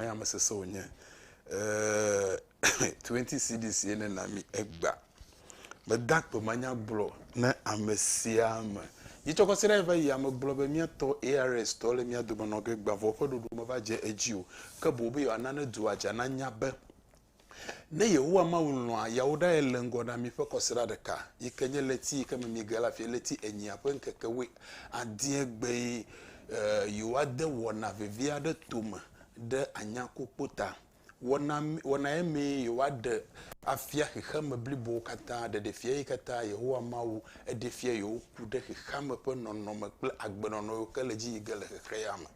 Ame ame sese wònye. Eeeeee twenty cedis ye ne na mi egba. Mede akpe manya gblɔ ne ame sia ame. Dzi tsɔ kɔsi ɖa va yi ya megblɔ be mía tɔ ARS tɔ le mía dome nɔ ge gbavɔ ƒe ɖoɖo me va dze edzi o. Ke boŋ be yewoa na ne dua dza na nya be Ne Yehowa Mawu lɔ̃a yeawo ɖa ye le ŋgɔ na mí ƒe kɔsiɖa ɖeka, yi ke nye ɣleti yi ke me míege le afia, ɣleti enyia ƒe ŋkeke wui adie gbee, e, yewoade wɔna vevi aɖe tome ɖe anyakukpo ta. Wɔna, wɔna ye mee yewoaɖe afia xexeame blibowo katã, ɖeɖefia yi katã Yehowa Mawu eɖe fia yewo ku ɖe xexeame ƒe nɔnɔme kple agbenɔnɔ yiwo ke le edzi yi ge le xexeame.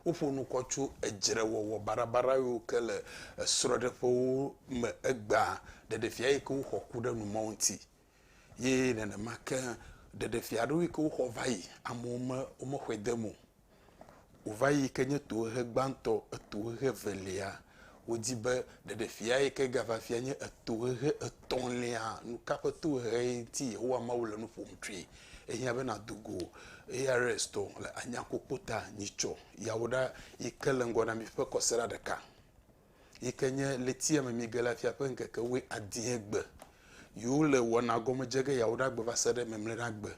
Woƒo nu kɔ tso edzrewɔwɔ baɖabaɖa yiwo ke le esrɔ̃ɖeƒewo me egbea, ɖeɖefia yi ke woxɔ ku ɖe nu ma ŋuti ye nenema ke ɖeɖefia ɖewo yi ke woxɔ va yi amewo me womexɔe de eme o. Wova yi yi ke nye tohehe gbãtɔ, etohehe evelia Wodi be ɖeɖefiae ke gava fia nye etohehe etɔ̃lia. Nu ka ƒe tohehe ŋuti Yehowa Mawu le nu ƒom tsoe? Ehiã be nàdo go ARS tɔ le anyakpokpo ta nyitsɔ yawo ɖa yi ke le ŋgɔ na mi ƒe kɔsiɖa ɖeka, yi ke nye ɣletia me mige la fia ƒe ŋkeke wuiadie gbe. Yiwo le wɔna gɔme dze ge yawo ɖa gbe va se ɖe mɛmlɛɖagbe.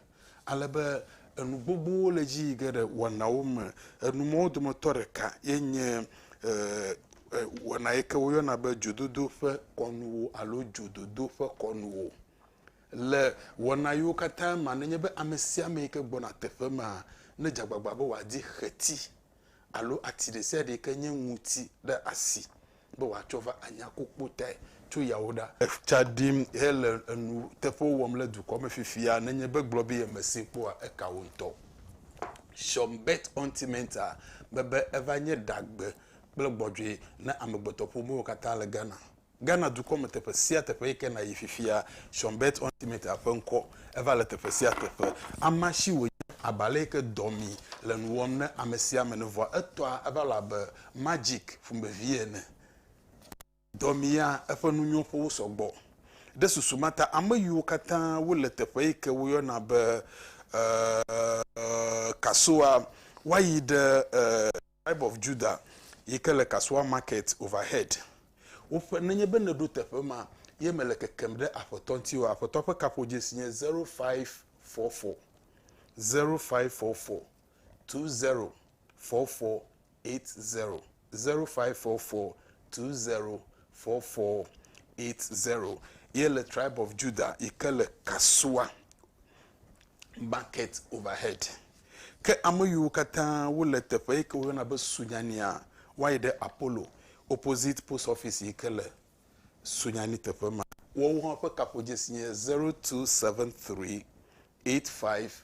Ale be enu gbogbowo le edzi yi ge ɖe wɔnawo me. Enu mawo dometɔ ɖeka ye nye wɔna yi ke woyɔna be dzododo ƒe kɔnuwo alo dzododo ƒe kɔnuwo. Le wɔna yiwo katã mea, nenye be ame sia ame yi ke gbɔna teƒe maa, ne dze agbagba be wòadi xeti alo ati ɖe sia ɖe yi ke nye ŋuti ɖe asi be wòatsɔ va anya kpukpu tae tso yawo ɖa. Tsa ɖim hele nuteƒewo wɔm le dukɔ me fifia nenye be gblɔ be yemesee kpɔ oa, eka wo ŋutɔ. Sean Bert Ontimenta be be eva nye ɖagbe kple gbɔdzɔe na amegbetɔƒomewo katã le Ghana. Ghana dukɔ me teƒe sia teƒe yi ke nàyi fifia, Sean Bert Ontimenta ƒe ŋkɔ eva le teƒe sia teƒe. Amea si wònye, abe ale yi ke dɔ mi le nu wɔm ne ame sia ame ne vɔa, etɔa eva le abe Magic ƒomevi ene. Dɔ mi ya eƒe nunyɔƒewo sɔgbɔ. Ɖe susu ma ta, ame yiwo katã wole teƒe yi ke woyɔna be Kasoa woayi ɖe Tribe of Judah yi ke le Kasoa Market Overhead. Woƒe, nenye be nèɖo teƒe ma ye mele kekem ɖe Aƒetɔ ŋuti oa, Aƒetɔa ƒe kaƒodzesi nye zero five four four, zero five four four, two zero 4480, 0544204480, ye le Tribe of Judah yi ke le Kasua Market Overhead. Ke ame yiwo katã wole teƒe yi ke woyɔna be Sunyania, woayi ɖe Apollo opposite post office yi ke le Sunyani teƒe ma. Woawo hã ƒe kaƒodzesi nye 0273 85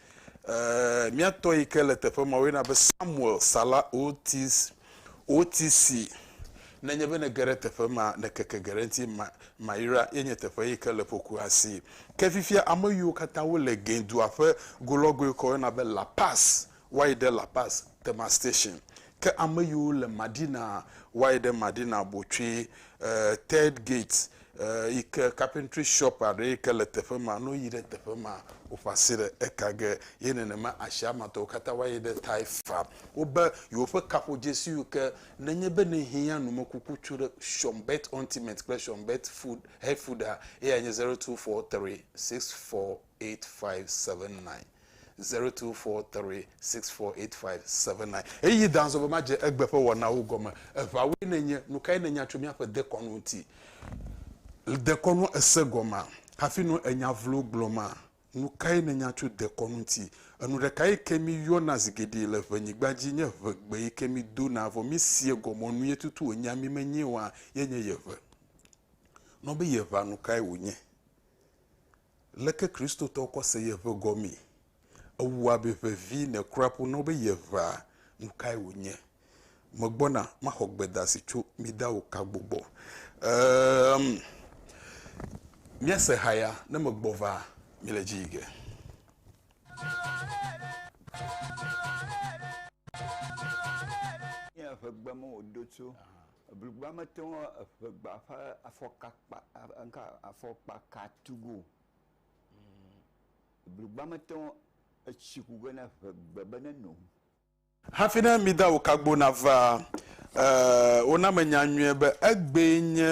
Ee, mía tɔ yi ke le teƒe ma woyɔna be Samuel Salah Otis, OTC. Nenye be nège ɖe teƒe ma, nèkeke ge ɖe eŋuti, Ma, Maira ye nye teƒe yi ke le ƒokua si. Ke fifia ame yiwo katã wole Gin dua ƒe go lɔgɔe yi ke woyɔna be La Paz woayi ɖe La Paz Thermal Station. Ke ame yiwo le Madina woayi ɖe Madina Botsoe, ee, Third Gate Eyike carpentry shop aɖe yike le teƒe ma, ne woyi ɖe teƒe ma, woƒe asi ɖe eka ge. Ye nenema asia me tɔwo katã va yi ɖe Thai farm. Wobe yewoƒe kaƒodzesiwo ke, nenye be ne hiã numekuku tso ɖe Sean Bett Ultimate kple Sean Bett Food Health Food-a, eyae nye zero two four three six four eight five seven nine. 0243648579 Ɣeyiɣi da azɔ be madze egbe ƒe wɔnawo gɔme. Eʋawoe nènye. Nukae nènya tso míaƒe dekɔnu ŋuti? Le dekɔnua èse gɔmea? Hafi nɔ ènya vlowo gblɔma? Nukae nènya tso dekɔnu ŋuti? Enu ɖeka yi ke míyɔna zi geɖe le ʋenyigba dzi nye ʋegbe yi ke mídona vɔ mísea gɔmeɔ nue tutu wònyea mí menyee oa, ye nye yeʋe. Nɔ be yeʋea nukae wònye? Leke Kristotɔwo kɔ se yeʋe gɔmee? Ewu abe ʋevi ne kura ƒo na wo be yeʋea nukae wònye. Megbɔna maxɔ gbedasi tso mi dao Kagbo gbɔ. Eeeemm. Miase haya ne megbɔ va mi le dzi yi ge. Nye ʋegbe me wòdo tso. Eblugba mete ŋu eƒegba ƒe afɔka kpa ŋka afɔkpa ka tu ge o. Eblugba mete ŋu etsi ku ge na eƒegbe be ne no. Hafi ne mi da wokagbo na va, e, wona me nya nyuie be egbee nye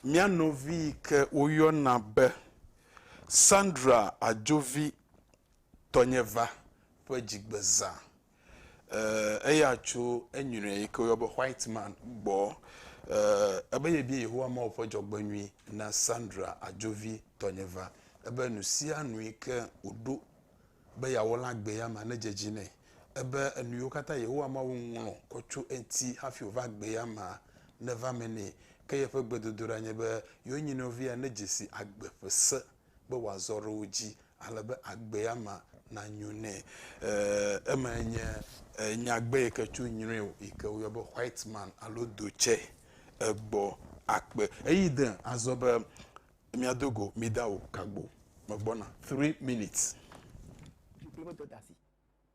mía nɔvi yi ke woyɔna be Sandra Adjovi tɔnye va ƒe dzigbezã. eh, eya tso enyuiɖe yi ke woyɔ be white man gbɔ eh, ebe yebia yehowa mawo ƒe dzɔgbenyui na sandra adzovi tɔnye va ebe nu sia nu yi ke wòɖo be yeawɔ la gbe ya ma nedze dzi nɛ ebe enu yiwo katã yehowa mawo ŋlɔ kɔ tso eŋuti hafi wòva gbe ya ma neva me nɛ ke yeƒe gbedodoɖa nye be yewo nyinɔvia nedze si agbe ƒe se be wòazɔ ɖe wo dzi ale be agbea me nanyo nɛ. Ee, emae nye nyagbe yi ke tso nyruiwo yi ke woyɔ be white man alo dotsɛ egbɔ akpe. Eyi de azɔ be miado go mida o, kagbo, megbɔna, three minutes.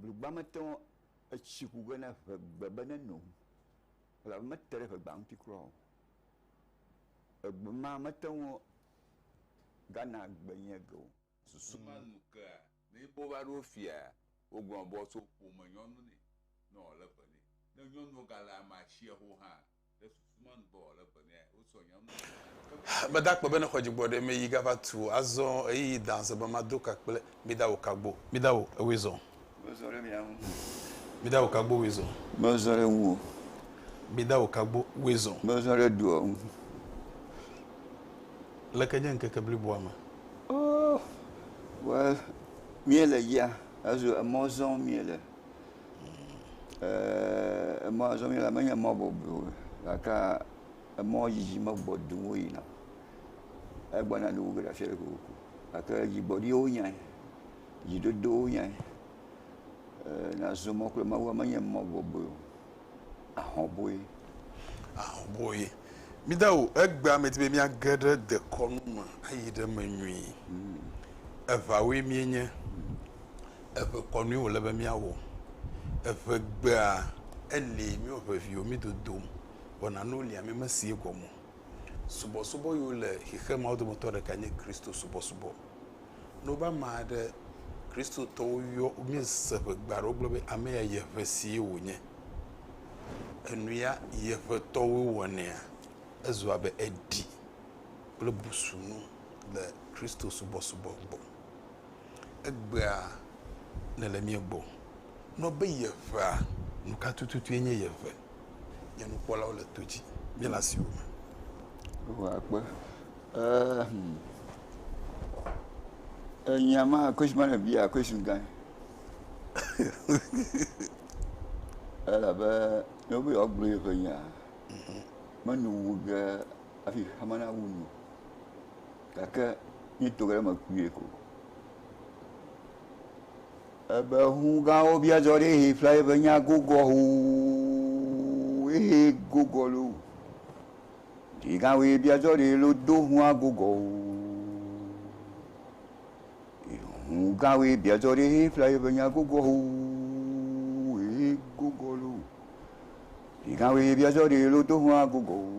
Blugba mete ŋu, etsi ku ge ne ŋe gbe be neno o, elabe mete ɖe ŋegba ŋuti kura o. Egbe ma mete ŋu gana gbe nye ge o. Susu ma nu kea ne be wova ɖo fia wogblɔ be woatso ƒome nyɔnu nɛ ne wòale be nɛ. Ne nyɔnua gale ame atsiaho hã Meda kpɔ be ne xɔ dzigbɔ ɖe me yi ga va tu azɔ eyi yi da zɔ be ma do ka kple mi da wo kagbo. Mi da wo ewe zɔ. Me zɔ ɖe mia ŋu. Mi da wo kagbo we zɔ. Me zɔ ɖe ŋu o. Mi da wo kagbo we zɔ. Me zɔ ɖe doa ŋu. Leke nye ŋkeke bliboa me? Oh, well, mi le yia, azu emɔ zɔ mi le. Eeeeee emɔ ya zɔm míele menye mɔ bɔbɔe o gake emɔ yiyim egbɔ duu woyina. Egbɔna duu ge le afi aɖe kokoko gake dzigbɔɖiwo wonyae, dzidodowo wonyae. Eeeeee nazɔ mɔ kple Mawua menye mɔ bɔbɔe o, ahɔ̃boe. Ahɔ̃boe. Míde o, egbea medi be míage ɖe dekɔnu me ayi ɖe eme nyuie. Eŋawoe míenye. Eŋe kɔ nue wòle be míawɔ. Eŋegbea, eli míewɔ ŋeviwo, mí dodom, wɔna nuwo li ame mesi egɔme o. Subɔsubɔ yiwo le xexemea wo dometɔ ɖeka nye Kristo subɔsubɔ. Ne wobe ame aɖe, Kristotɔwo yɔ, míese ŋegbe aɖe wogblɔ be ame ya yi eŋe sie wònye. Enu ya yi eŋetɔwoe wɔnɛa, ezu abe eɖi kple busunu le Kristo subɔsubɔ gbɔ. Egbea nèle mía gbɔ nɔ be yeʋea. Nu ka tututue nye yeʋe? Nye nukpɔlawo le to dzi, míele asiwò me. Yehowa kpe. Ehm. Enya ma question ma ne bia question gã. Elabe ne wobe yewoagblɔ yeƒe nya, menyo wu ge hafi xexea me nawu nu. Gake mí to ge ɖe eme kpuie ko. Ebe hũ gãwo bia dzɔ ɖe ehe ƒla ebe nya gogɔ hoo, ehe gogɔ lo. Ɖe gã woe bia dzɔ ɖe lo do hũa gogɔ hoo. Hũ gã woe bia dzɔ ɖe ehe ƒla ebe nya gogɔ hoo, ehe gogɔ lo. Ɖe gã woe bia dzɔ ɖe lo do hũa gogɔ hoo.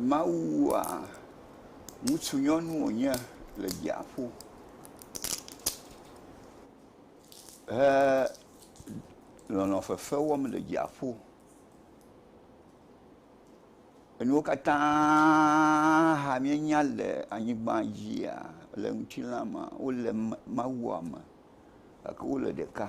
Mawu wua ŋutsu nyɔnu wonye le dziaƒo he nɔnɔ fefe wɔm le dziaƒo. Enuwo katã hã mienya le anyigba dzia le ŋutilã me wole Mawua me gake wole ɖeka.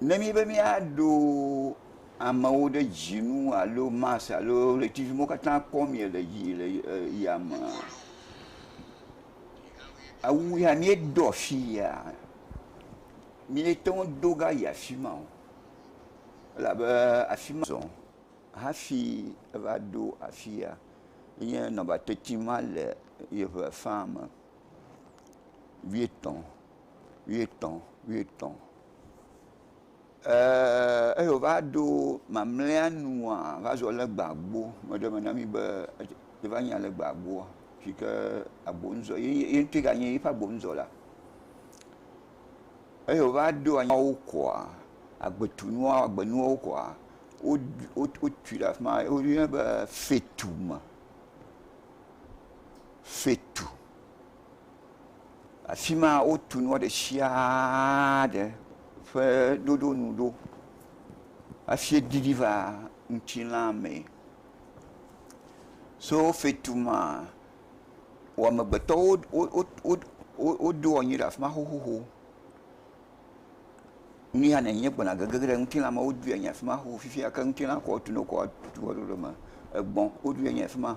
Ne míbe míaɖo amewo ɖe dzinu alo Mars alo ʋletivi mawo katã kpɔm le yi le yamea, awu ya míedo afi yia, míete ŋu do va yi afi ma o. Elabe afi ma zɔ hafi eva ɖo afi ya. Enye nɔnɔme teti ma le yeŋe faa me. Wuietɔ̃, wuietɔ̃, wuietɔ̃. Eeeeee eyi wòva ɖo mamlɛa nua, va zɔ le gbea gbɔ. Meɖe eme na mí be yeva nya le gbea gbɔa, si ke agbonuzɔ, ye ŋutɔe ganye eƒe agbonuzɔla. Eyi wòva ɖo anyi nuwo kɔa, agbetu nuwo, agbe nuwo kɔa, wotui ɖe afi ma, woyɔnɛ be fetu me. Fetu. Afi ma wotu nua ɖe sia ɖe ƒe ɖoɖo nu ɖo hafi ɖiɖi va ŋutilã me. So fetu ma, wò amegbetɔwo woɖo anyi ɖe afi ma xoxoxo. Nu ya nènye gbɔna gege ɖe ŋutilã me. Woɖoe anyi ɖe afi ma xoxo fifia ke ŋutilã ke wotu nɔ kɔ woaɖo ɖe eme. Egbɔ̃ woɖoe anyi ɖe afi ma.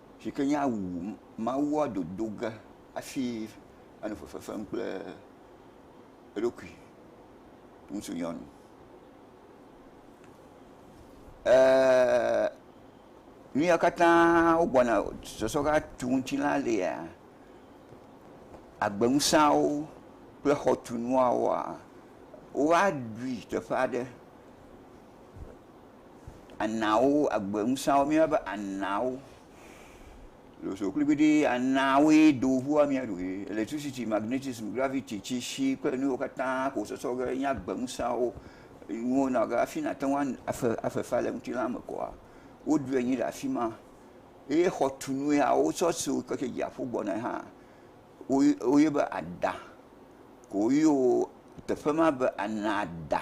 Si ke nye awu Mawua dodo ge hafi anɔ fefe fem kple eɖokui. Ŋutsu nyɔnu. Eeeee nu ya katã wogbɔna sɔsɔ va tu ŋuti la lia, agbeŋusẽawo kple xɔtunuawoa, woaɖui teƒe aɖe. Anaawo, agbe ŋusẽawo, míeyɔna wo be anaawo. Losoo kplibiɖii, anaawoe do ŋua mía ɖo ye. Elektricity, magnetism, gravity, tsitsi kple nu yiwo katã ke wosɔsɔ be enye agbe ŋusẽawo nuwo na wò be hafi nàte ŋu afe afe fea le ŋutilã me kɔa, woɖui anyi le afi ma. Eye xɔtunu ya wotsɔ si wò keke dziaƒo gbɔna hã, woy woyɔe be ada. Woyɔ teƒe ma be anaada.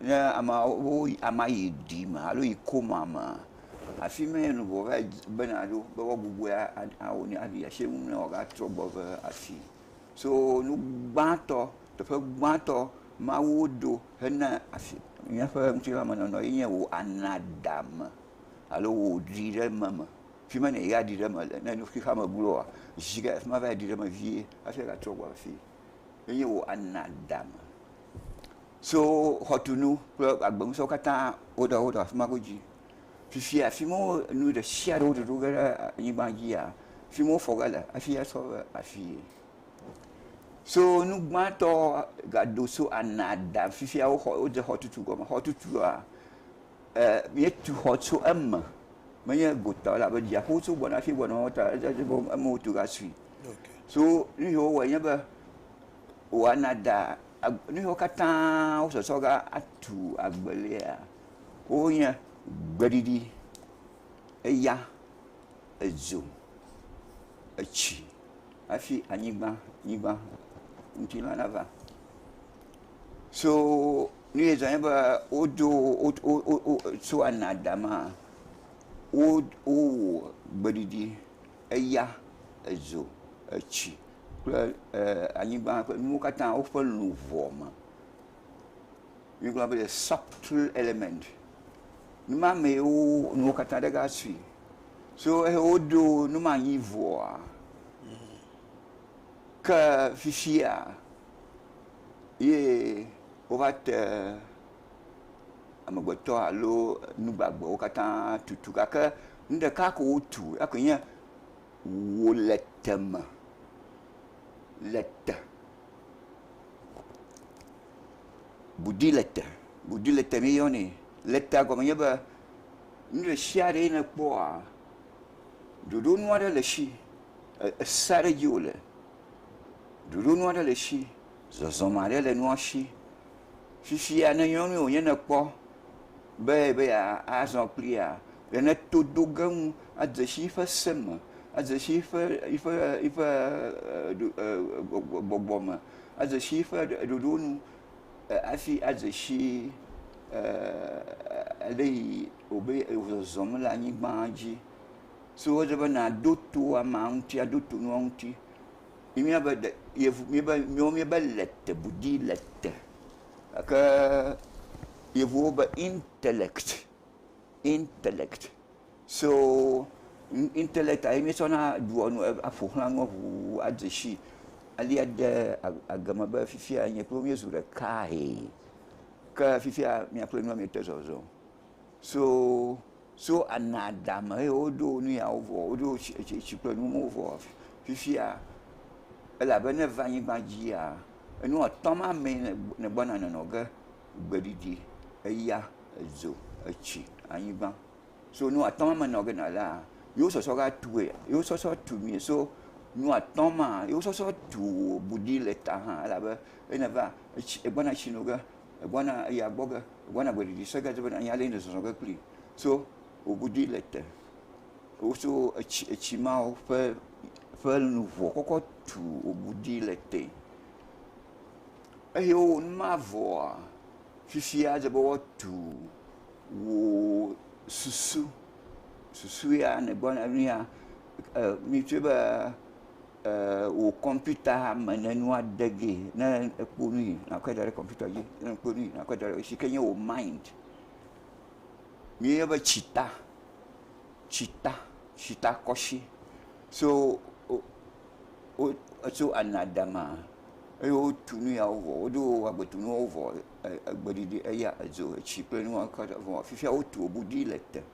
Ne ameawo woyi amea yi ɖi me alo yi koma mea, afi ma ye luʋɔ va yi bena ɖo be woagbugbɔe awo nɛ ayi ɖe asi nu nɛ wòagatrɔ gbɔ va afii. So nu gbãtɔ, teƒe gbãtɔ ma woɖo hena afi, míaƒe ŋutilãmenɔnɔ ye nye wò anadame alo wò ɖiɖememe. Fi ma nèyi aɖi ɖe eme le. Ne nu xexeame gloa, zi ɖe afi ma va yi ɖi ɖe eme vie hafi agatrɔ gbɔ va afii. Enye wò anadame. So xɔtunu kple agbeŋusɔwo katã woɖe wo ɖe afi ma godzi. Fifia fi ma wo nu ɖe sia ɖe woɖoɖo ge ɖe anyigba dzia, fi ma wofɔ ge le hafi asɔ ɖe afii. So nu gbãtɔ gado so ana da fifia woxɔ wode xɔtutu gɔme. Xɔtutua e míetu xɔ tso eme menye gota o elabe dziaƒo tso gbɔna hafi gbɔna o ta eme wotu gasui. So nu yi wowɔe nye be woana da Nu siwo katã wosɔsɔ ge atu agbelia wonye gbeɖiɖi, eya, edzo, etsi hafi anyigba, nyigba ŋuti ma nava. So nu ye zɔ nye be wodo wo wo wo wo tso anadama wo wowɔ gbeɖiɖi. eya, edzo, etsi kple anyigba ƒe nuwo katã woƒe luʋɔ me. Mígblɔ be subtle element. Numa mee wo nuwo katã ɖe ga sui. So eyi woɖo numa anyi vɔa, ke fifia ye wova te amegbetɔ alo nu gbagbewo katã tutu gake Nu ɖeka ko wotu, eyakoe nye wò le te me. Le te. Budi le te. Budi le te míeyɔnɛ. Le tea gɔme nye be nu ɖe sia ɖe nèkpɔa, ɖoɖonu aɖe le esi. Ese aɖe dzi wòle. Ɖoɖonu aɖe le esi. Zɔzɔme aɖe le nua si. Fifia ne nyɔnue wònye nèkpɔ. be yeazɔ kplia, ne to do ge ŋu adze si eƒe se me, adze si eƒe gbɔgbɔ me, adze si eƒe ɖoɖo nu hafi adze si ale yi wobe zɔzɔm le anyigba dzi. So wodze be nàɖo to amea ŋuti, aɖo to nua ŋuti. Míaƒe ɖe, míaƒe, míawo míebe lɛtɛbudi, lɛtɛ. Gake Yevuwo be intellect, intellect. So intellect-a ye míetsɔna ɖua nu, aƒo xlã nuwo ŋuu adze sii. Alea de egɔme be fifia nye kple wò míezu ɖekae. Ke fifia mía kple nua míete zɔzɔm. So. So ana dame eye woɖo wo nu yawo vɔ, woɖo wo tsi, etsi, etsi kple nuwo vɔ fifia, elabe ne eva anyigba dzia, enu atɔ̃ ma mee ne, negbɔna nɔnɔ ge, gbeɖiɖi, eya, edzo, etsi, anyigba. So nu atɔ̃ ma me nɔ ge nalea, yewo sɔsɔ va tue, yewo sɔsɔ tu nui. So nu atɔ̃ ma, yewo sɔsɔ tu wò bu ɖi le ta hã elabe ne eva etsi, egbɔna etsi nu ge, egbɔna eye agbɔ ge, egbɔna gbeɖiɖi se ge alo bena anya le ye ne zɔzɔ ge kpli so wò godui le te. Woso etsi etsi mawo ƒe ƒe luʋɔ kɔkɔ tu wò godui le te. Eye wowɔ nu ma vɔa, fifia edze be woatu wò susu susu ya nègbɔna nuya e mi tse be. wò kɔmpita me ne nua de ge ne ekpɔ nu yi nàkɔe da ɖe kɔmpita dzi ne ekpɔ nu yi nàkɔe da ɖe kɔmpita dzi si ke nye wò mind. Míeyɔe be tsita, tsita, tsitakɔsi so wo wo etso anadama eye wotu nu ya wo vɔ woɖo agbetu nuwo vɔ e egbeɖiɖi eya edzo etsi kple nuwo katã vɔ fifia wotu wò ɖi le te.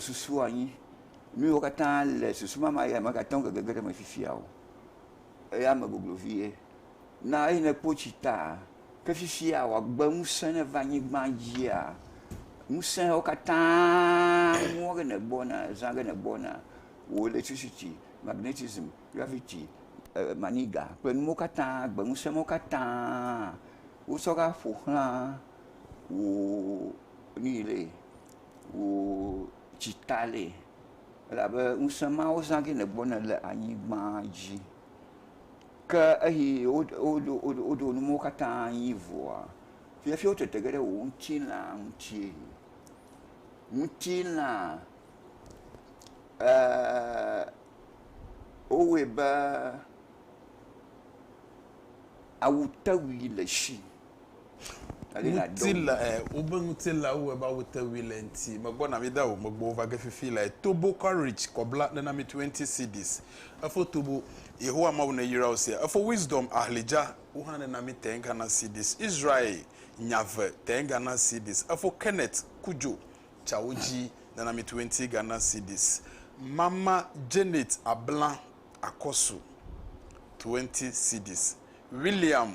Susu anyi. Nuyiwo katã le susu mama ya mègate ŋu gege ɖe eme fifia o. Eya me goglo vie. Na eyi nekpɔ tsi ta. Ke fifia wò agbe ŋusẽ ne va anyigba dzia, ŋusẽwo katã mɔ ge nègbɔna, zã ge nègbɔna, wò electricity, magnetism, gravity, maniga kple nuwo katã, agbe ŋusẽ mawo katã wotsɔ va ƒoxla wò nuyi ɖee. wò dzi ta le elabe ŋusẽ ma wozã ge nègbɔ ne le anyigba dzi. Ke eyi woɖo nuwo katã anyi vɔa, fiafi wotete ge ɖe wò ŋutilã ŋuti. Ŋutilã eeee wowɔe be awutewui le esi. Ŋutila, ɛ, wobe ŋutila wo eba wo te wui le ŋti. Megbɔ na mi da wo, megbɔ wo va ge fifi le tobo courage kɔbla nena mi 20 cedis. Efo tobo, Yehowa Mawu ne yra wo sia. Efo wisdom ahlidja wo hã nena mi tɛn Ghana cedis. Israel nya ve tɛn Ghana cedis. Efo Kenneth kudjo ca wo dji nena mi 20 Ghana cedis. Mama Janet abla akɔsu 20 cedis. William.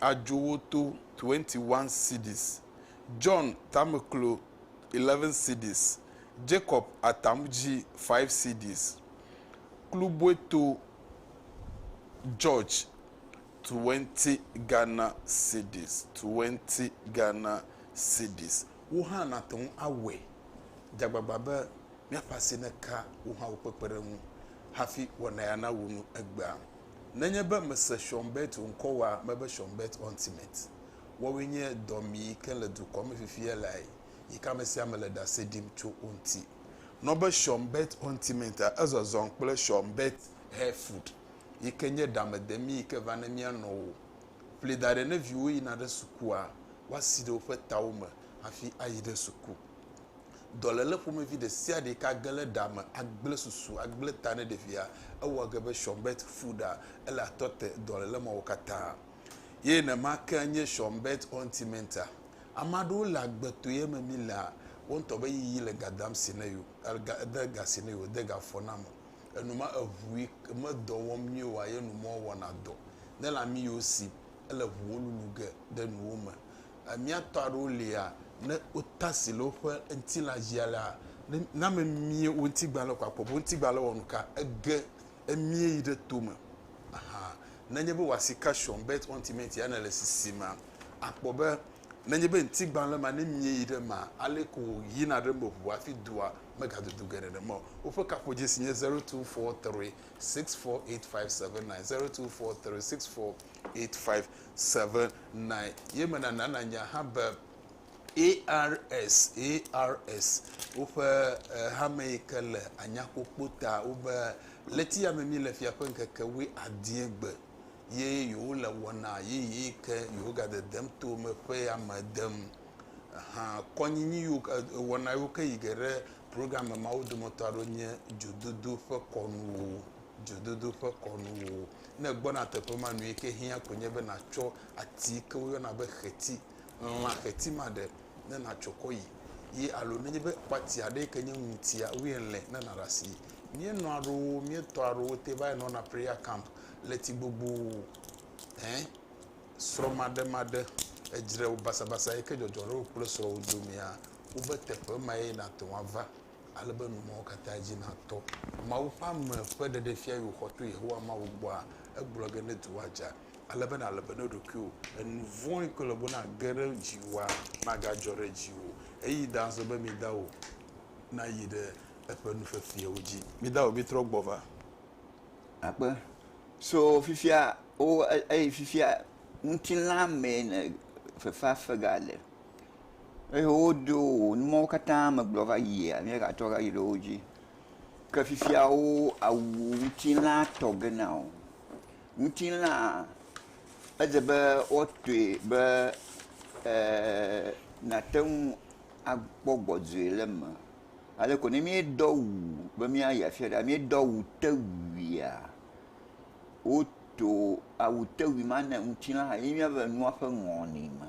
adzo wo to 21 cedis, John tameklo 11 cedis, Jacob atamdzi 5 cedis, Kluboeto George 20 Ghana cedis, 20 Ghana cedis. Wo hã nàte ŋu awɔe. Dze agbagba be míaƒe asi neka wo hã wo kpekpeɖeŋu hafi wɔna ya nawu nu egbea. Nenye be mèse Sean Burt o ŋkɔ wa me be Sean Burt Ontimet. Woawoe nye dɔmi ke le dukɔ me fifia lae yi ke ame sia ame le ɖase ɖim tso wo ŋuti. Nɔ be Sean Burt Ontimet a, ezɔzɔm kple Sean Burt Hair Food yi ke nye ɖamedemi yi ke va ne mía nɔwo. Ƒli da ɖe ne viwo yina ɖe sukua, woasi ɖe woƒe tawo me hafi ayi ɖe suku. Dɔléle ƒomevi ɖe sia ɖe yi ke age ɖe ɖa me agblẽ susu, agblẽ ta ne ɖevia, ewɔ ge be Schönberg fu ɖa. Ele atɔ te dɔléle mawo katã. Ye nema ke nye Schönberg Ontimenta. Ame aɖewo le agbe to ye me mi la, wo ŋutɔ be yiyi le ga dam si ne yewo, ga de ga si ne yewo, de ga fɔ na me. Enu ma eŋu yi ke me dɔ wɔm nyuie oa, ye nu ma wɔna dɔ. Ne lãmi yewo si, ele ŋuwo lulu ge ɖe nuwo me. Mía tɔ aɖewo lia, ne wotasi le woƒe ŋutilã dzia la, ne na míemie wo ŋutigbalẽ ko akpɔ be wo ŋutigbalẽ wɔ nu ka. Ege emie yi ɖe to me. Aha. Nenye be wò asi ka shuɔm belt on cement ya nèle sisim akpɔ be nenye be ŋutigbalẽ ma ne mie yi ɖe emea, aleke ko wòyina ɖe eme ʋua hafi doa megadudu geɖe ɖe eme o. Woƒe kaƒodzesi nye zero two four three six four eight five seven nine, zero two four three six four 8579 ye menana nanya hã be ARS, ARS woƒe eh, hame yi ke le anyakpokpo ta wobe leti ya me mi le fia ƒe ŋkeke wui adie gbe ye yewo le wɔna yeye yi ke yewo ga dedem to me ƒe ya me dem hã kɔnyinyi yiwo ke- eh, wɔna yiwo ke yi ge ɖe program me mawo dometɔ aɖewo nye dzododo ƒe kɔnuwo dzododo ƒe kɔnuwo ne ègbɔna teƒe ma, nuyike ke hiã koe nye be nàtsɔ ati yike woyɔna be xeti, lã xeti ma ɖe ne nàtsɔ kɔ yi. Ye alo nenye be kpati aɖe yike nye ŋutia woyɔe le ne nàɖe asi. Míenɔ aɖowo, míetɔ aɖowo te va yi nɔna prayer camp le ti gbogbo ɛ srɔmaɖemaɖe edzre basabasa yike dzɔdzɔ ɖe wò kple srɔwò domea, wobe teƒe ma ye nàte ŋu ava. Ale be nu mawo katã dzi natɔ. Mawu ƒe ame ƒe ɖeɖefia yi wòxɔ to Yehowa Mawu gbɔa, egblɔ ge ne dua dza. Ale be nàle be ne ɖokuiwò, enu vɔ̃e koe le be nàge ɖe dziwòa, magadzɔ ɖe dziwò o. Eyi dazɔ be midawò nayi ɖe eƒe nu fefeawo dzi. Midawò mitrɔ gbɔ va. Akpe. So fifia, wo, eye fifia ŋutilã mee ne fefea fegale. eye wodo wò nuwo katã me gblɔ va yia, ne yewoatrɔ va yi ɖe wo dzi. Ke fifia wo awu ŋutilã tɔ ge na wò. Ŋutilã edze be woatɔe be eeee nàte ŋu akpɔ gbɔdzɔe le eme. Ale ko ne míedo awu be míayi afi aɖe, míedo awutewuia, woto awutewui ma ne ŋutilã ye míava le nua ƒe nɔnɔme.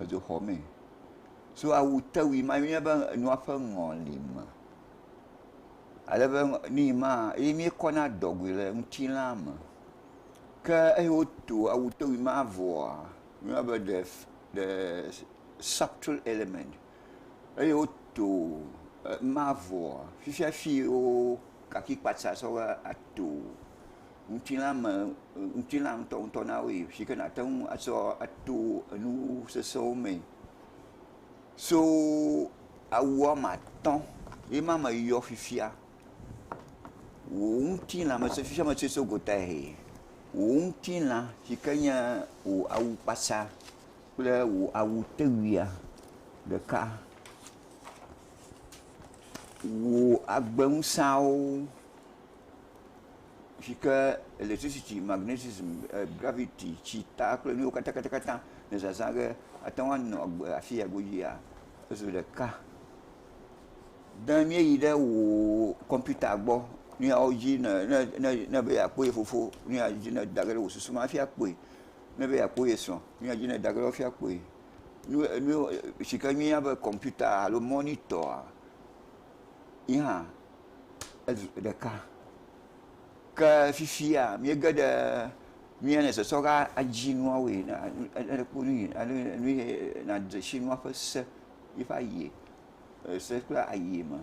edzo xɔ mee. So awutewui ma yɔnɛ be enua ƒe ŋɔlime. Ale be nii maa, ye míekɔna dɔgoe le ŋutilãa me. Ke eyi wotu awutewui ma vɔa, míeyɔna be the the subtle element. Eye wotu ema vɔa, fifiafi woo kafikpatsa sɔ va atuu. ŋutilã me ŋutilã ŋutɔŋutɔ na woe si ke nàte ŋu atsɔ ato enu sesẽwo mee so awu woame atɔ̃ ye ma me yɔ fifia. Wò ŋutilã me sesẽ sia me sesẽ so gotahɛ. Wò ŋutilã si ke nye wò awukpatsa kple wò awutewuia ɖeka wò agbeŋusẽawo. si ke elektricity, magnetism, gravity, tsita kple nuwo katã le zazã ge ate ŋu anɔ agbe le afi ya godzia zu ɖeka. Ne míeyi ɖe wò kɔmpita gbɔ nu yawo dzi ne ne ne ne be yeakpɔ ye fofo nu ya dzi ne da ge ɖe wò susu me hafi akpɔe. Ne be yeakpɔ ye srɔ̃ nu ya dzi ne da ge ɖe wo hafi akpɔe. Nu nu si ke míeyɔna be kɔmpita alo mɔnitɔa ye hã ezu ƒe ɖeka. Ke fifia míege ɖe mía nɔ zɔzɔ ge adzi nua wɔe na alo kpɔ nu yi alo nu yi nadze si nua ƒe se yiƒe ayie ese kple ayie me.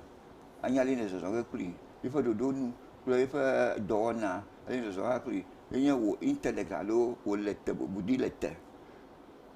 Anya ale yi nɔ zɔzɔ ge kpli yiƒe ɖoɖo nu kple yiƒe dɔwɔna ale yi nɔ zɔzɔ ge kpli ye nye wò intelect alo wò lete wò budi lete.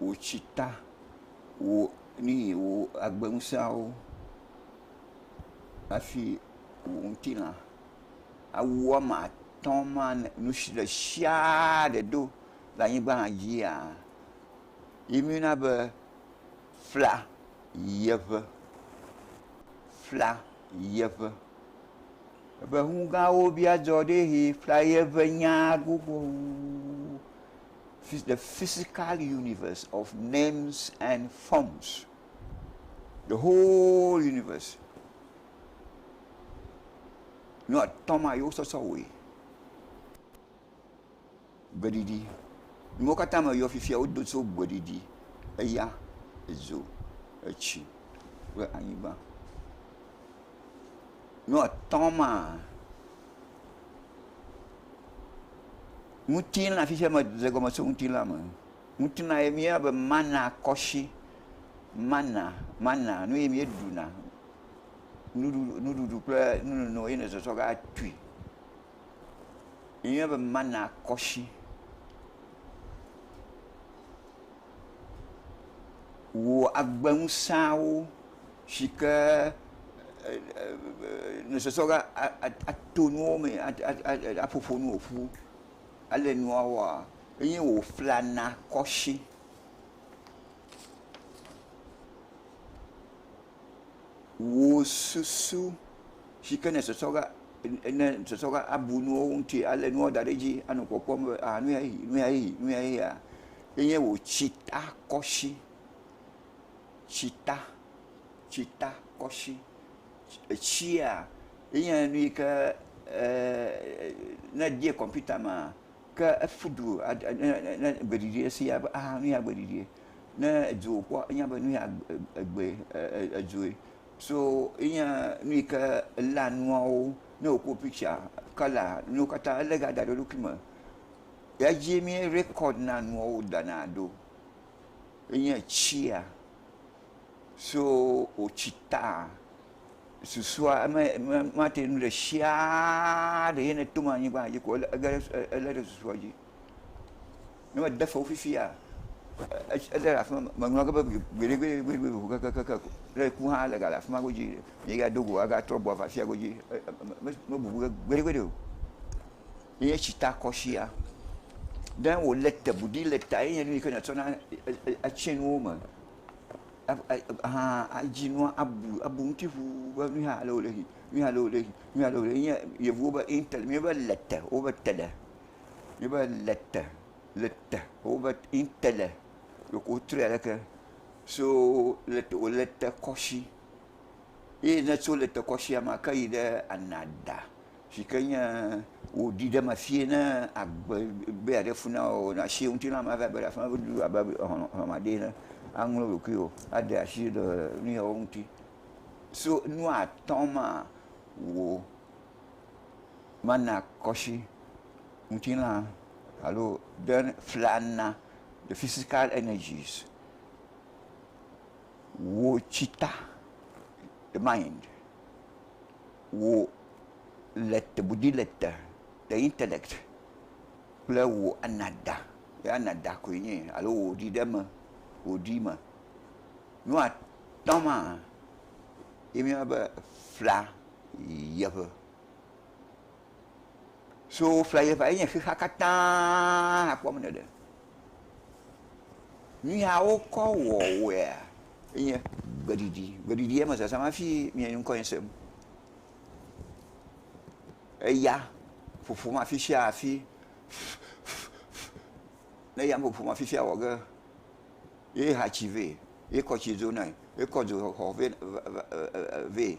wò tsita, wò nuyi, wò agbeŋusẽawo hafi wò ŋutilã. Awu woame atɔ̃ ma le nu si le siaa ɖe do le anyigba dzia, ye míeyɔna be fla yiyiaƒe, fla yiyiaƒe. Ebe ŋugãwo bia dzɔ ɖi eye fla yiyiaƒe nyaa gbogbo wu. the physical universe of names and forms, the whole universe. Nu atɔ̃ ma yewo sɔsɔ wɔe. Gbeɖiɖi. Nuwo katã me yɔ fifia wodo tso gbeɖiɖi, eya, edzo, etsi kple anyigba. Nu atɔ̃ maa. Ŋutilã, afi sia medze egɔme tso ŋutilã me. Ŋutilã ye míeyɔna be mana kɔshi, mana, mana, nu ye míeɖuna, nuɖuɖu, nuɖuɖu kple nunono ye nèzɔzɔ va tui. Míeyɔnɛ be mana kɔshi. Wò agbeŋusẽawo. si ke nusɔsrɔ̃ la ato nuwo me aƒoƒo nu woƒu ale nua wɔa eye woflana kɔ si. Wò susu si ke nusɔsrɔ̃ la ne nusɔsrɔ̃ la abu nuwo ŋuti alé nuwo da ɖe edzi anɔ kpɔkpɔm be nuyae nuyae nuyae nuyae enye wò tsita kɔ si. tsita, tsitakɔshi. Etsia enye nu yi ke ne edie kɔmpita mea, ke efudu ne egbe ɖiɖi esi ya be axa nuya gbe ɖiɖi. Ne edzo wokpɔ enya be nuya egbe edzoe. So enye nu yi ke elea nuawo ne wokɔ piktsa, kɔla nuwo katã ele ga da ɖe eɖokui me. Edzi mí rekɔd na nuawo dana ɖo. enye tsia so wotsi ta susua me me mate ŋu ɖe tsia ɖe ye neto ɖe anyigba dzi ko ege ɖe ele ɖe susua dzi. Ne mede fewu fifia e- ele ɖe afi ma meŋlɔ ge be gbeɖegbeɖegbeɖe ʋu kakakaka ko ne eku hã ele gale afi ma godzi ye ado go agatrɔ gbɔ va afia godzi e- e- me- me- mebubu ge gbeɖegbeɖe o. Ye tsitakɔsia ɖe wòle te ŋu ɖi le ta ye nye nu yi ke nàtsɔna atsi nuwo me hã adzi nua abu abu eŋuti ŋu be nu yi hã ale wòle yi, nu yi hã ale wòle yi, nu yi hã ale wòle yi. Enye Yevuwo be intel míebe le te wobe te ɖe. Míebe le te le te wobe intele loko wotrɔe ale ke. So le te wòle tekɔsi ye ne tso le tekɔsia me aka yi ɖe anada. si ke nye wòɖi ɖe eme vie ne agbe be yeaɖe fu na wò na si ŋutilã mava be ɖe afi ma be du abe hlɔ̃ma ɖee ene aŋlɔ ɖokuiwò ade asi le nu yawo ŋuti. So nu atɔ̃ ma wò mana kɔsi ŋutilã alo ɖe flana the physical energies wò tsita the mind. wò le tebudi le te le intɛnɛt kple wò anada, ye anada koe nye ye alo wò ɖi ɖe me, wò ɖi me. Nu atɔ̃ maa, ye míeyɔna be fla yeʋe. So fla yeʋea ye nye xexea katãa hakpɔ me ɖeɖe. Nuya wokɔ wɔ wɔea enye gbeɖiɖi. Gbeɖiɖi eme zazam hafi mia nye ŋkɔe sem. Eya ƒoƒom afi sia afi ne eya ƒoƒom afi sia wɔ ge ye ha tsi vɛ ye kɔ tsi dzonae ye kɔ dzo xɔ vɛ.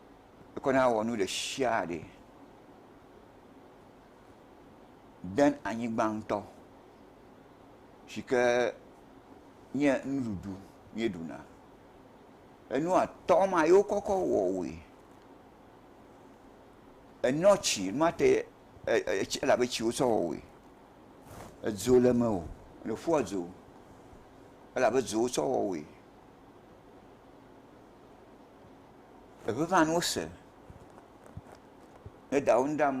ekɔ na wɔ nu ɖe sia ɖe den anyigba ŋutɔ si ke nye nuɖuɖu míeɖuna. Enu atɔ ma ye wokɔkɔ wɔ woe. Enɔ tsi nua te elabe tsi wokɔ wɔ woe. Edzo le eme o le ƒua dzo elabe dzo wokɔ wɔ woe. Teƒe maa nuwo se ne edawo nu ɖam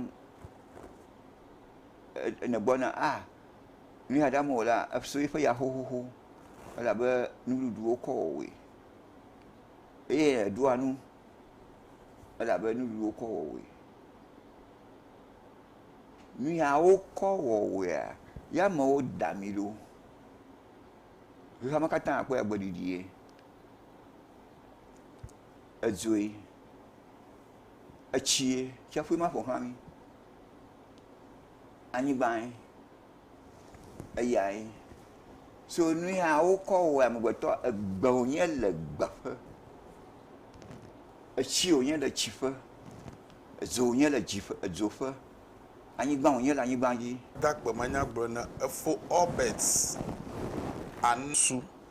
ne gbɔna ah nuya ɖam wolea efia eƒe ya xoxoxo elabe nuɖuɖu wokɔ wɔwoe eye eɖua nu elabe nuɖuɖu wokɔ wɔwoe. Nuya wokɔ wɔwoea ya amewo da ami ɖo. Xexeame katã akpɔe agbe ɖiɖi ye. edzoe, etsie, tsiaƒue ma ƒoxla mí, anyigbae, eyae, so nu ya wokɔ wɔ amegbetɔ, egbe wònye le gbe ƒe, etsi wònye le tsi ƒe, edzo wònye le dzi ƒe edzo ƒe, anyigba wònye le anyigba dzi. Takpemanyagblɔɖi na efo Obert Anu su.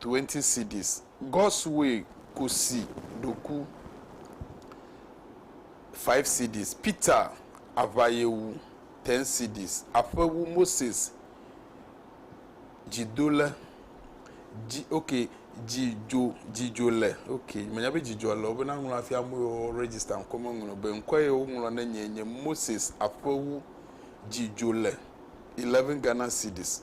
twenty cedis. God's way kusi ɖoku five cedis. Peter aʋayewu ten cedis. Aƒewu Moses dzidole dzi ok dzidzo dzidzo le ok menya be dzidzɔ le wobe naŋlɔ hafi ame yiwo register ŋkɔ meŋlɔ be ŋkɔ ye woŋlɔ ne nye nye Moses aƒewu dzidzo le eleven Ghana cedis.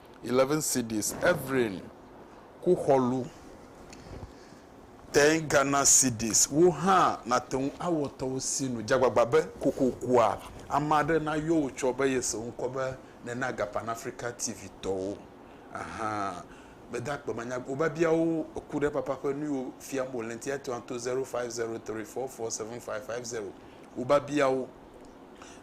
11 cedis, Ephraim ku xɔlu 10 Ghana cedis. Wò hã nàte ŋu awɔ tɔwòsinu dzeagbagba be kokokoa ame aɖe nayɔ wò tsɔ be yese wò ŋkɔ be nèna aga Pan Afrika TV tɔwo. Aha. Mede akpe manya wò biabiawo ku ɖe papa ƒe nuyiwo fiam wòle ŋuti etɔ̃a to 0503447550. Wò biabiawo.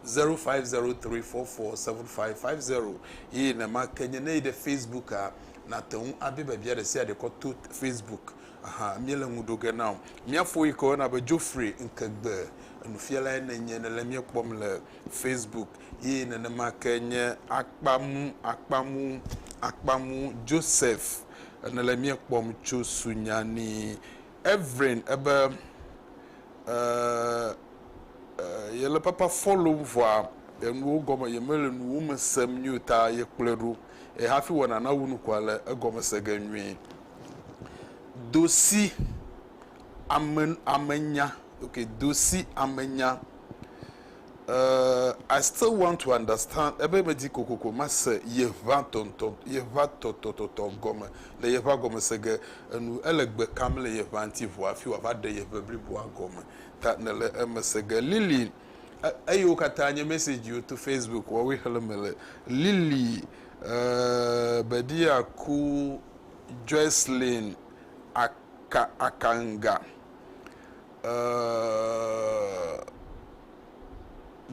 zero five zero tri fɔ fɔ seven five five zero eye nenamake nye ne yi ɖe Facebooka nàte ŋu abia biabia ɖe sia ɖe kɔ to Facebook aha míele ŋu ɖo ge na wò. Mía fo yi ke woyɔna be Geoffrey Nkegbe nufialae nènye nèle mía kpɔm le Facebook eye nenemake nye Akpamu Akpamu Akpamu Joseph nèle mía kpɔm tso Sunyani Evelyn ebe, Ɛɛ, ɛɛ, yele papa fɔlom vɔa enuwo gɔme yemele nuwo me sem nyuie o ta yekplɔe ɖo eye hafi wòana nawu nu koa le egɔme se ge nyuie. Do si ame, amenya, ok, do si amenya. eh, I still want to understand ebe medi kokoko mase yeʋa tɔntɔ, yeʋa tɔtɔtɔtɔ gɔme le yeʋa gɔme se ge enu. Ele gbe kam le yeʋa ŋuti vɔ hafi wòava ɖe yeʋe bliboa gɔme ta nèle eme se ge. Lily, E, eyiwo katã nye mɛsɛdziwo to Facebook woawoe xlẽ mele. Lily, eh, Bedi aku Joycelyn Aka, Akanga.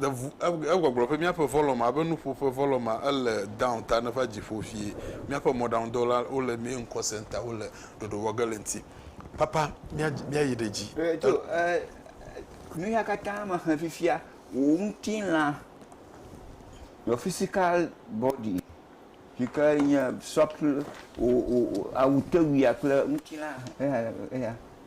Egbɔgblɔ ƒe míaƒe volume abe nuƒo ƒe volume ma ele down ta ne va dziƒo vie míaƒe mɔɖaŋudɔwɔla wo le main call center wo le ɖoɖo wɔ ge le ŋuti papa mía mía yi ɖe dzi. Eto ɛ nu ya katã me xe fifia wò ŋutilã your physical body yi ke nye sɔkple wò wò awutewuia kple ŋutilã eya eya.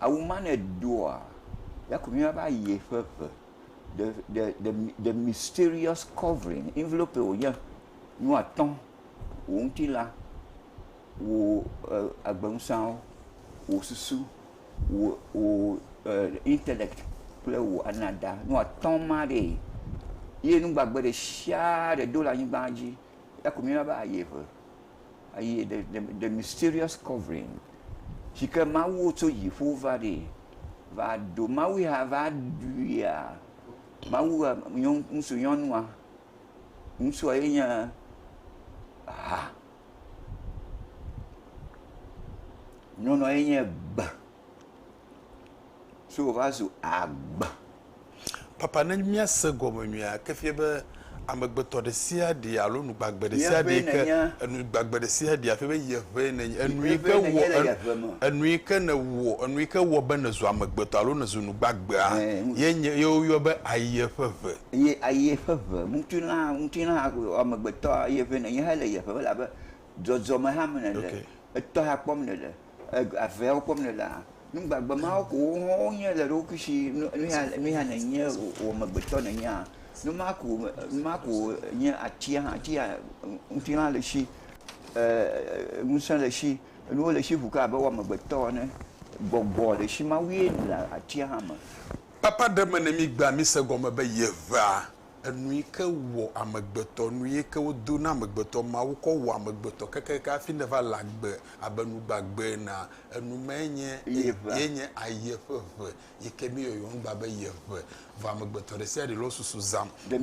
Awu ma ne doa, ya ko mía va yi ƒe ƒe. The the the the mysterious covering envelope ye wònye. Nu atɔ̃, wò ŋutilã, wò e agbenuseawo, wò susu, wò wò e intellect kple wò anada. Nu atɔ̃ ma ɖee. Ye nu gbagbe ɖe sia ɖe do le anyigba dzi ya ko mía va yi ƒe. Eye the, the, the mysterious covering si ke Mawu tso dziƒo va ɖi va ɖo Mawu ya va ɖuia Mawu ŋutsu nyɔnua ŋutsua ye nye ha nyɔnua ye nye gbe So wòva zu agbe. Papa, ne míase gɔme nyuie a, eke fia be amegbetɔ ɖe sia ɖe alo nu gbagbe ɖe sia ɖe yike, enu gbagbe ɖe sia ɖe afia be ye ʋee nènye. Enu yike wɔ, enu yike nèwɔ, enu yike wɔ be nèzu amegbetɔ alo nèzu nu gbagbea, ye nye, ye woyɔ be ayie ƒe ʋe. Ye ayie ƒe ʋe. Ŋutilã, ŋutilã amegbetɔ, ye ʋee nènye hele ye ʋem elabe dzɔdzɔme hame nèle, etɔha kpɔm nèle. aveawo kpɔm le laa, nu gbagbe mawo ko wonye le eɖokui si nuya hã nènye wò amegbetɔ nènyea, nu ma ko nu ma ko nye atia hã, atia ŋutilã le esi ee ŋusẽ le esi nuwo le esi ŋu ke abe wò amegbetɔ ene, gbɔgbɔ le esi mawue le atia hã me. Papa ɖe me ne mígbea míse gɔme be yeʋea Enu yi ke wɔ amegbetɔ, nu yi ke wodo na amegbetɔ, Mawu kɔ wɔ amegbetɔ kekeake hafi neva le agbe abe nu gbagbe enea, enu mae nye ye nye aye ƒe ʋe yi ke míeyɔyɔ ŋugba be ye ʋe. Vɔ amegbetɔ ɖesiaɖe le wo susu zãm be ye.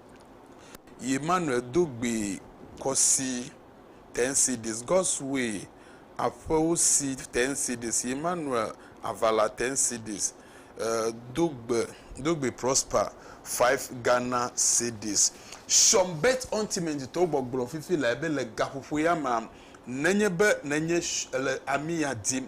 yi Manuel do gbee kɔ si Ten Cities, God's Way, Aƒewo si Ten Cities, yi Manuel Avala Ten Cities, do gbe, do gbe Prosper, Five Ghana Cedis. Sean Bett Ontimenjitɔwo gbɔgblɔ fifi lae be le gaƒoƒo ya mea, nenye be nènye le amia dim